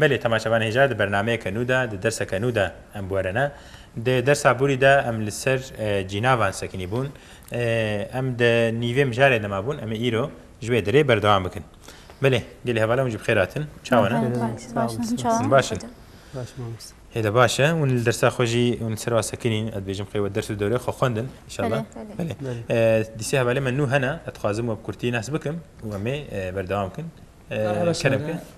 Belê temaşevan hêja di bernameyeke nû de, di derseke nû de em bûerine. Di dersa borî de em li ser cînavan sekinî bûn. Em di nîvê mijarê de ma bûn, em ê îro ji wê derê berdewam bikin. Belê, gelê hevala wan jî bi xêr hatin. Çawa ne? Hûn baş in? Hê de baş e. Hûn li dersa xwe jî hûn li ser wan sekinîn. Ez dibêjim qey we ders û dewrê xwe xwendin înşallah. Belê. Dî sê hevalên me nû hene. Ez dixwazim we bi kurtî nas bikim û em ê berdewam bikin. Kerem ke.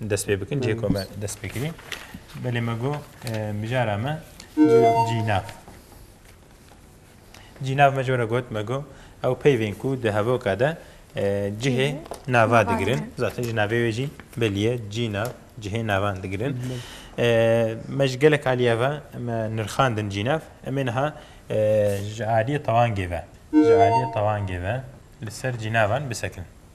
Dest pê bikin cê ku me dest pê kirî. Belê me got mijara me cînav. Cînav me jora got me got ew peyvên ku di hevoka de cihê nava digirin. Zaten cînavê wê jî beliye cînav cihê navan digirin. Me ji gelek aliye ve me nirxandin cînav. Em ê niha ji aliyê tewangê ve ji aliyê tewangê ve li ser cînavan bisekin.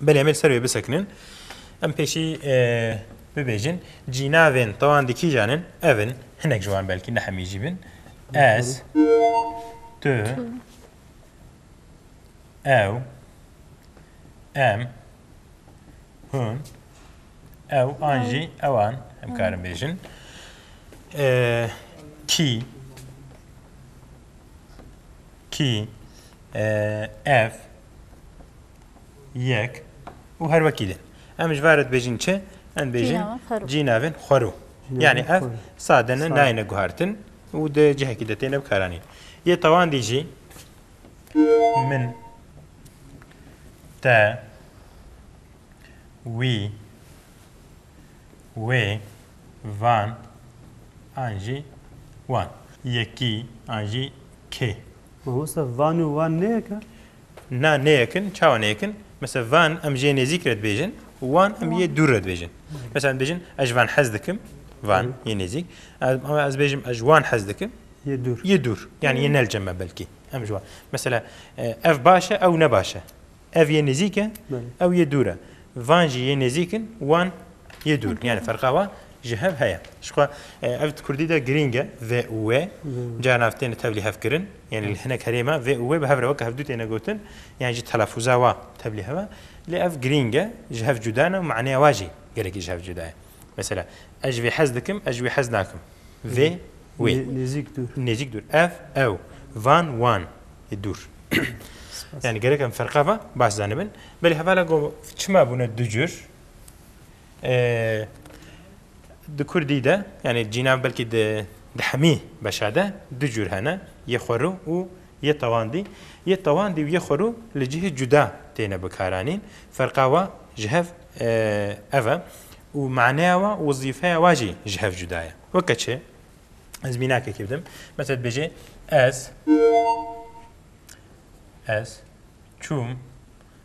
Belê em ê li ser wê bisekinin. Em pêşî bibêjin cînavên tawan di kîjan in ev in hinek ji wan belkî nehemî jî bin ez tu ew em hûn ew an jî ewan em karin bêjin kî kî ev Yek û her wekî din. Em ji ber dibêjin çi? Em dibêjin cî navên xwero. Yanî ev sade ne nayêne guhertin û di cihekî de têne bikaranîn. Yê tewandî jî min te wî wê van an jî wan yekî an jî kê. Mamosta van û wan ne yek e? Na ne yek in, çawa ne yek in? Mesela van em ji yê nêzîk re dibêjin û wan em ji yê dûr re dibêjin. Mesela em dibêjin ez ji van hez dikim, van yê nêzîk. Ama ez bêjim ez ji wan hez dikim, Yê dûr. yê dûr. Yanî yê nelce me belkî. Em ji wan. Mesela ev baş e, ew ne baş e. Ev yê nêzîk e, ew yê dûr e. Van jî yê nêzîk in, wan yê dûr in. Yanî ferqa wan ji hev heye. Jixwe ev di kurdî de girîng e, vê û wê. Carinan ev têne tevlî hevkirin. Yanî li hinek herêma vê û wê bi hev re weke hevdû têne gotin. Yan jî telafûza wan tevlî hev e. Lê ev girîng e, ji hev cuda ne û maneya wan jî gelekî ji hev cuda ye. Mesela, ez ji vê hez dikim, ez ji wê hez nakim. Vê, wê. Nêzîk, dûr. Nêzîk, dûr. Ev, ew. Van, wan. dûr. Yani gerek em ferqa va baş zanibin. Belê hevala go çima bûne du cür. Di Kurdî de yani cînav belkî di di hemî beşa de du cür hene yê xwerû û yê tewandî. Yê tewandî û yê xwerû li cihê cuda têne bikaranîn. Ferqa wa ji hev ev e û maneya wa wizîfeya wa jî ji hev cuda ye. Weke çi? Ez mînakekê bidim. Mesela dibêjê ez ez çûm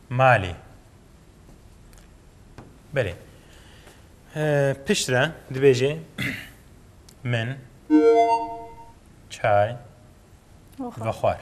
malê. Belê. Piştre dibêjê min çay vexwar.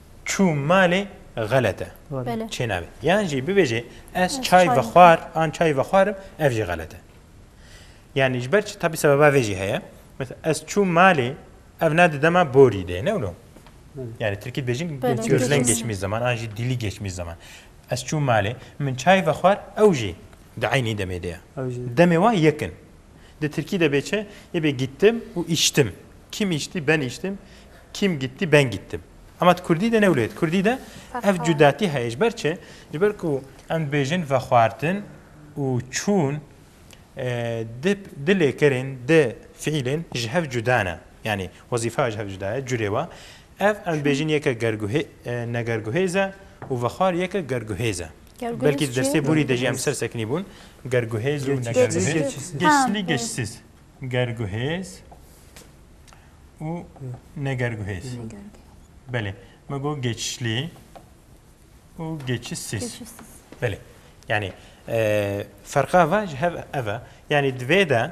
Çû malê xelet e. Bele. Çênavê. Yan jî bibêjê ez Ez çay çay vexwar vexwar. an çay vexwarim ev jî xelet e. Yanî ji ber çi tabî sebeba vê jî heye. Mesela ez çûm malê ev ne di dema borî de ye ne wilo. Yani Tirkî dibêjin Bele, gözlen gözlen. geçmiş zaman an jî dîlî geçmiş zaman. Ez çûm malê min çay vexwar ew jî di eynî demê de ye. Ew jî. Demê wan yek in. Di tirkî de bê çi? Yê bê gittim û îştim. Kim îştî? Ben îştim. Kim gittî? Ben gittim. Ema di kurdî de ne wilo ye. Di kurdî de ev cudatî heye. Ji ber çi? Ji ber ku em dibêjin vexwartin û çûn di di lêkerên, di fiîlên ji hev cuda ne. Yanî wezîfa ya ji hev cuda ye. Curê we ev em dibêjin yeke gerguhê negerguhêz e û vexwar yeke gerguhêz e. Belkî dersê borî de jî em ser sekinî bûn. Gerguhêz û negerguhêz. Geçslî geçsiz. Gerguhêz û negerguhêz. Belê. Me got geçslî û geçisiz. Belê. Yanî ferqa va ji hev ev e. Yanî divê de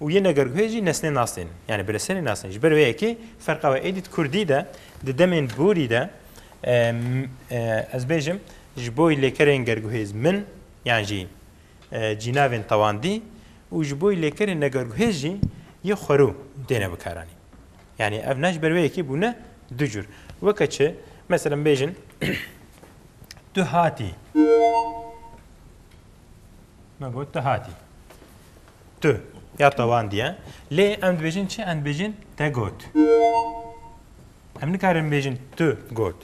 Û yên neger guhê jî nesnên nas tên. Yanî bi lisenê nas tên. Ji ber wê yekê ferqa we êdî di kurdî de di demên borî de ez bêjim ji bo lêkerên gerguhêz min yan jî cînavên tewandî û ji bo lêkerên negerguhêz jî yê xwerû têne bikaranîn. Yanî ev ne ji ber wê yekê bûne du cûr. Weke çi meselem bêjin tu hatî. Me got tu hatî. Tu ya tawandiye. Lê em dibêjin çi? Em dibêjin te got. Em nikarin bêjin tu got.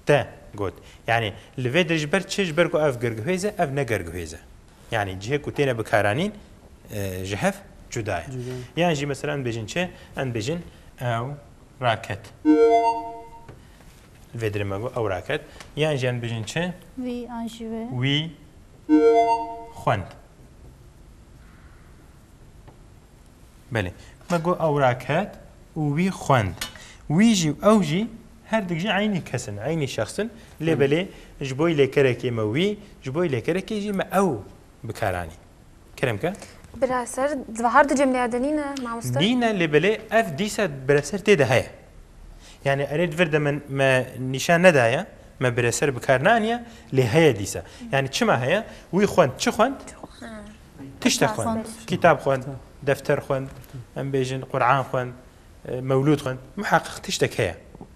Te got. Yani li vê dir ji ber çi? Ji ber ku ev girguhêz e, ev ne girguhêz e. Yani cihê ku têne bikaranîn ji hev cuda ye. Yan jî mesela em dibêjin çi? Em dibêjin ew raket. Vêdirê me got ew raket. Yan jî em dibêjin çi? Wî an jî wê. Wî xwend. Belê. Me got ew raket û wî xwend. Wî jî û ew jî her dik jî eynî kes in, eynî şexs in. Lê belê ji bo lêkerekê me wî, ji bo lêkerekê jî me ew bikaranîn. Kerem ke. Bira ser zivahar di cemleya de nîne mamoste? Nîne lê belê ev dîsa bira ser tê de heye. Yani erê di vir de min me nîşan nedaye, me bira ser bi kar neaniye lê heye dîsa. Yani çima heye? Wî xwend çi xwend? Tişte xwend. Kîtab xwend, defter xwend, em bêjin Quran xwend, mewlûd xwend. Muheqeq tiştek heye.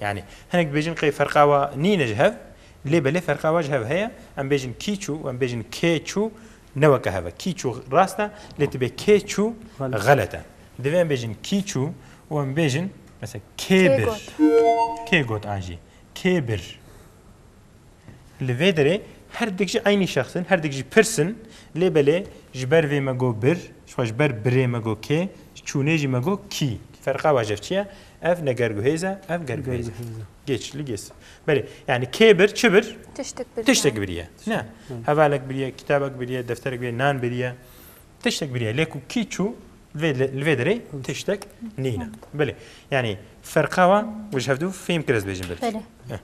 Yanî hinek dibêjin qey ferqa wa nîne ji hev lê belê ferqa wa ji hev heye, em bêjin kîçû û em bêjin kêçû ne weke hev e. Kîçû rast e lê tibê kêçû xelet e. Divê em bêjin kîçû û em bêjin mesela kê bir. Kê got an jî kê bir. Li vê derê her dik jî eynî şexs in, her dik jî pirs in, lê belê ji ber vê me got bir, jixwe ji ber birê me got kê, ji çûnê jî me got kî. Ferqa waj ev çi ye? Ev ne gerguhêz e, ev gerguhêz e. Gêç li gês. Belê, yanî kê bir, çi bir? Tiştek biriye. Tiştek biriye. Ne. Hevalek biriye, kitabek biriye, defterek biriye, nan biriye. Tiştek biriye. Lê ku kî çû li vê derê tiştek nîne. Belê. Yanî ferqa wan ji hev dû fêm kir ez bêjim belkî.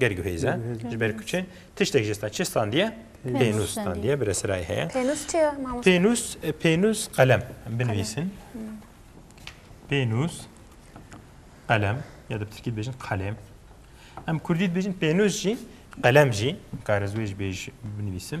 ger guhêze ji ber kuçin tiştek ji stan çi standiye pênûs standiye bi resirayê heye pênûs çi ye pênûs pênûs qelem binivîsin pênûs qelem ya da bi tirkî dibêjin qelem em kurdî dibêjin pênûs jî qelem jî karizwêj bêj binivîsim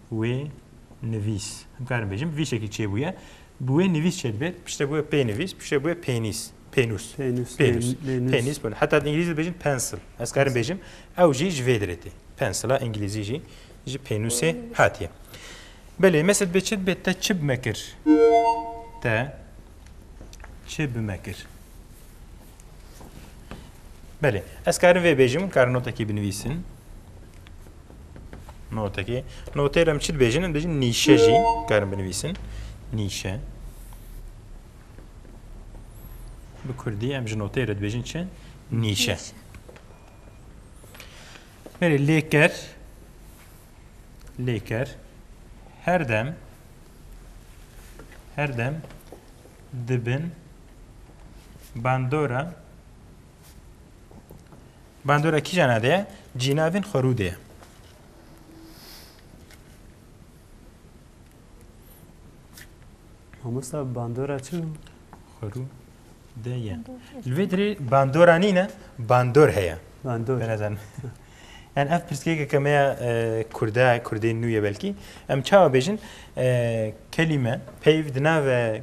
wê nivîs. Dikarim bêjim vî şekî çêbûye. Bi wê nivîs çê dibe, piştre bi wê pênivîs, piştre bi wê pênîs. Pênûs. Pênûs. Pênûs. Pênûs. Pênûs. Heta di îngilîzî dibêjin pencil. Ez dikarim bêjim ew jî ji vê derê tê. Pencila îngilîzî jî ji pênûsê hatiye. Belê mesela dibe çi dibe te çi bi me kir? Te çi bi me kir? Belê. Ez karim vê bêjim, karim notekî binivîsim. Notekê. Noteyê em çi dibêjin? Em dibêjin nîşe jî karin binivîsin. Nîşe. Bi Kurdî em ji noteyê re dibêjin çi? Nîşe. Berê lêker lêker her dem her dem dibin bandora Bandora kîjan a de ye? Cînavên xwerû de ye. Mamosta bandora çi bû? Xwerû de ye. Li vê dirê bandora nîne, bandor heye. Bandor. Benezan. Yani ev pirsgêkeke me ya e, Kurda, Kurdên nû ye belkî. Em çawa bêjin? E, kelîme, peyv di nave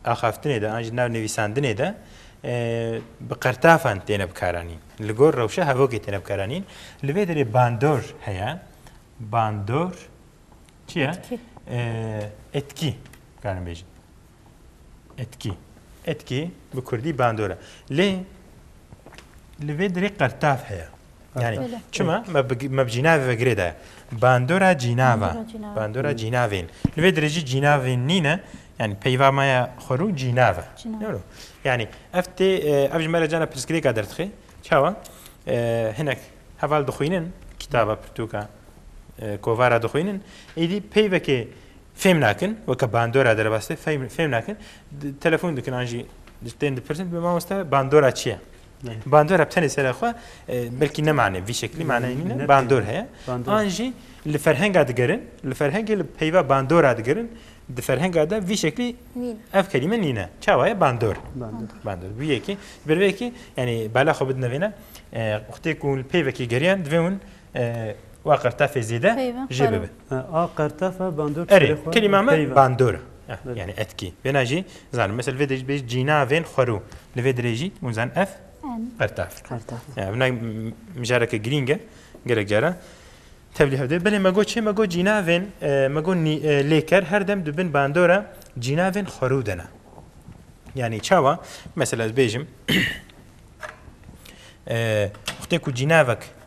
axaftinê de an jî di nav nivîsandinê de bi qertafan têne bikaranîn. Li gor rewşa hevokê têne bikaranîn. Li vê derê bandor heye. Bandor çi ye? Etkî. Karin bêjin. Etkî. Etkî bi kurdî bandor e. Lê li vê derê qertaf heye. Yani çima me bi cînavê ve girê de bandora cînava bandora cînavên li vê dirêjî cînavên nîne yani peyva me ya xwerû cînav e yani ev tê ev ji me re cana pirsgirêka derdixê çawa hinek heval dixwînin kitaba pirtûka kovara dixwînin êdî peyvekê fêm nakin weke bandora derebastê fêm nakin telefon dikin an jî tên dipirsin bi mamoste bandora çi ye Bandor hep tenê sera xwe belkî ne mane vî şeklî maneyê nîne bandor heye an jî li ferhenga digerin li ferhengê li peyva bandora digerin di ferhenga de vî şeklî ev kelîme nîne çawa ye bandor bandor wî yekî bi vê yekî yanî bala xwe bidine vêne xwedê ku li peyvekî geriyan divê hûn Wa qirtefê zêde jê bibe. A qirtefe bandor Erê, kelîma me bandor e. Yani etkî. Vêna jî zanim. Mesela vê de bê cînavên xwerû. Li vê dirê jî hûn zanin ev qirtef. Vina mijareke girîng e. Gelek cara tevlî hev dê. Belê me got çi? Me got cînavên me got lêker her dem di bin bandora cînavên xwerû de ne. Yani çawa? Mesela ez bêjim Xwedê ku cînavek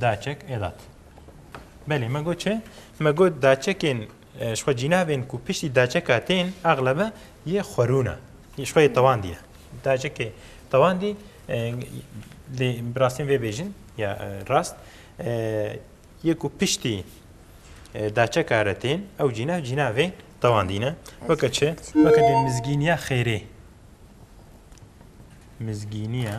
Daçek elat. Belê me got çi? Me got daçekên e, ji xwe cînavên ku piştî daçeka tên eglebe yê xwerûna. Ji xwe yê tewandî ye. Daçekê tewandî e, lê bi rastîn vê bêjin ya e, rast e, yê ku piştî e, daçeka re tên ew cînav cînavê tewandî ne. Weke çi? Weke dê mizgîniya xêrê. Mizgîniya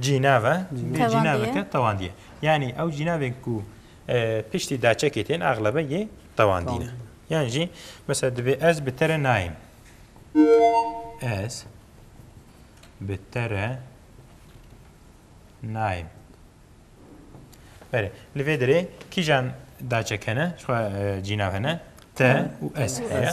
Cînav e, dê cînaveke tewandî ye. Yanî ew cînavên ku piştî daçekê tên exlebe yê tewandî ne. Yan jî mesela divê ez bi te re nayêm. Ez bi te re nayêm. Berê, li vê derê kîjan daçek hene, cînav hene, te û ez heye.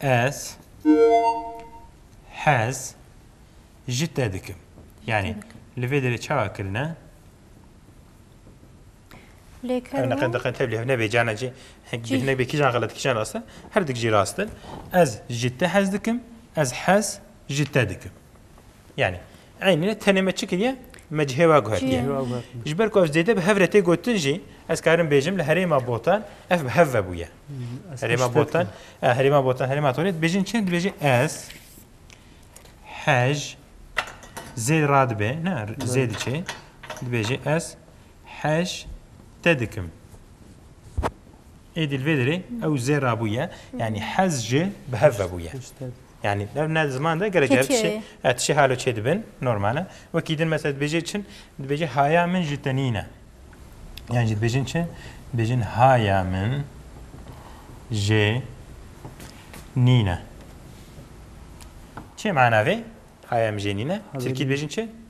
Ez hez ji te dikim. Yanî li vê derê çawa kirine? Lêkirina. Ew neqe diqe tevlî hev nebê cana cî hek nebê kîjan xelet kîjan rast e. Her dik jî rast in. Ez ji te hez dikim, ez hez ji te dikim. Yanî Eynîne tenê me çi kiriye? Me ji hêwa guhetiye. Ji ber ku ev zêde bi hev re tê gotin jî ez karim bêjim li herêma Botan ev bi hev ve bûye. Herêma Botan, herêma Botan, herêma Torê dibêjin çi? Dibêjin ez hej zêd radibe, ne zêd çi? Dibêjin ez Heş te dikim. Êdî li vê derê ew zê rabûye yanî hez ji bi hev vebûye. Yani ev ne ziman de gerek gerek şey et şey halo çê dibin normale wekî din mesela dibêjê çin dibêjê haya min ji te nîne. Yani jî dibêjin çi? Dibêjin haya min jê nîne. Çê mana vê? Haya min jê nîne. Tirkî dibêjin çi?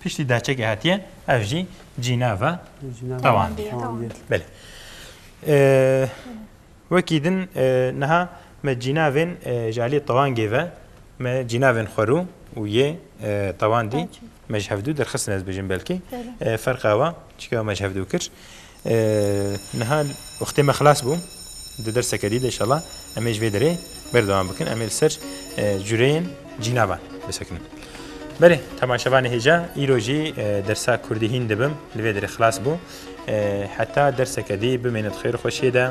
Piştî dehçekê hetiye ev jî cînev e tewandiye. Belê. Wekî din niha me cînevên ji aliyê tewangê ve me cînevên xwerû û yê tewandî me ji hevdû derxistin ez bijim belkî ferqa wa çika me ji hevdû kir. Niha wextê me xilas bû. Di derseke dî de inşallah em ê ji vê derê berdewam bikin. Em ê li ser cureyên cînavan bisekinin. Belê temaşevanê hêja îro jî dersa kurdî hîn dibim li vê derê xilas bû. Heta derseke dî bimêne di xêr û xweşiyê de.